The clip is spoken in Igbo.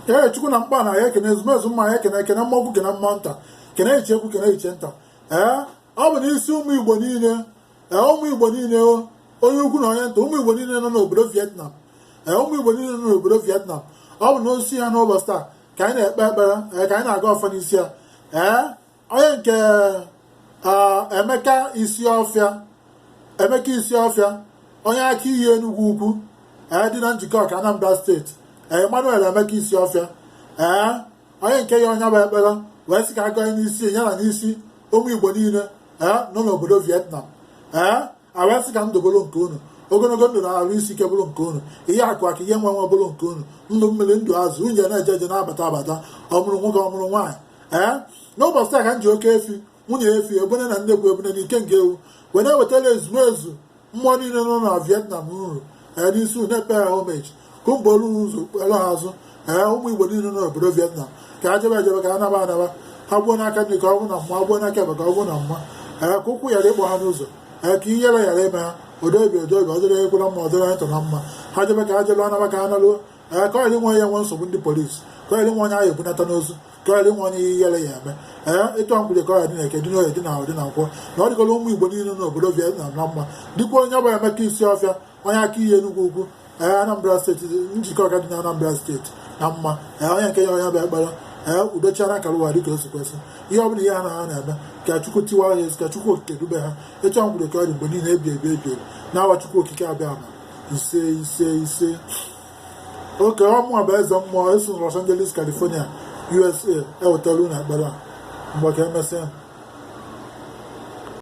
ee chukwu na mkpa na ya ekene ezumezu mmụọ ya ekene ekene mmụọ ukwu kene mmụọ nta kene ichie ukwu kene ichie nta ee ọ bụ n'isi ụmụ igbo niile ee ụmụ igbo niile onye ukwu na onye nta ụmụ igbo niile nọ n'obodo vietnam ee ụmụ igbo niile nọ n'obodo vietnam ọ bụ n'isi ya n'ụbọchị taa ka anyị na-ekpe ekpere ee ka anyị na-agọ ọfọ n'isi ya ee onye nke Emeka Isiofia Emeka Isiofia onye Akiyi Enugwu Ukwu ee dị na Njikọka Anambra steeti ee Emmanuel Emeka Isiofia ee onye nke ya nwe ya bụ ekpere wee sị ka agọnye n'isi ya na n'isi ụmụ Igbo niile ee nọ n'obodo Vietnam ee a wee sị ka ndụ bụrụ nke unu ogologo ndụ na arụ isi ike bụrụ nke unu ihe akụ akụ ihe enwe enwe bụrụ nke unu ndụ mmiri ndụ azụ unu na-eje eje na-abata abata ọmụrụ nwoke ọmụrụ nwaanyị ee n'ụbọchị taa ka m ji oke efi nwunye efi ebune na nnekwu ebune na ikenga ewu wee na-ewetara ezumezu mmụọ niile nọ na vietnam nru ee n'isi unu na-apay ha homage ka mma buru ụzọ kpere ha azụ ee ụmụ igbo niile nọ n'obodo vietnam ka a jebe ejebe ka a naba anaba ha gbuo n'aka nri ka ọ bụ na mma gbuo n'aka ekpe ka ọ bụ na mma ee ka ụkwụ ghara ịkpọ ha n'ụzọ ee ka ihere ghara ime ha odebi odebi ọ dịrị ekwela mma ọ dịrị anyị tọ na mma ha jebe ka ha jebe ha naba ka ha naruo ee ka ọ ghara inwe onye ya-enwe nsogbu ndị polisi ka ọ ghara inwe onye a ya-ebunata n'ozu ka ọ ghara inwe onye ihere ya-eme ee ịtụ mkpọrọ ka ọ ghara ịdị na eke dị n'oye dị na afọ dị na nkwọ na ọ dịgola ụmụ igbo niile n'obodo vietnam na mma dịkwa onye ọbụla emeka isiofia onye akiyi enugwu ukwu ee Anambra steeti Njikọka dị na Anambra steeti na mma ee onye nke ya nwe ya bụ ekpere ee udochara akara ụwa dịka o si kwesị ihe ọbụla ihe ha na ha na-eme ka Chukwu tiwa ha ezi ka Chukwu okike dube ha etu ahụ kwuru ka ọ dị mgbe niile ebi ebi ebi ebi n'aha Chukwu okike abịama ise ise ise ọ kwa mụwa bụ eze mmụọ esi na Los Angeles California USA ewetara unu ekpere a ngwa ka emesịa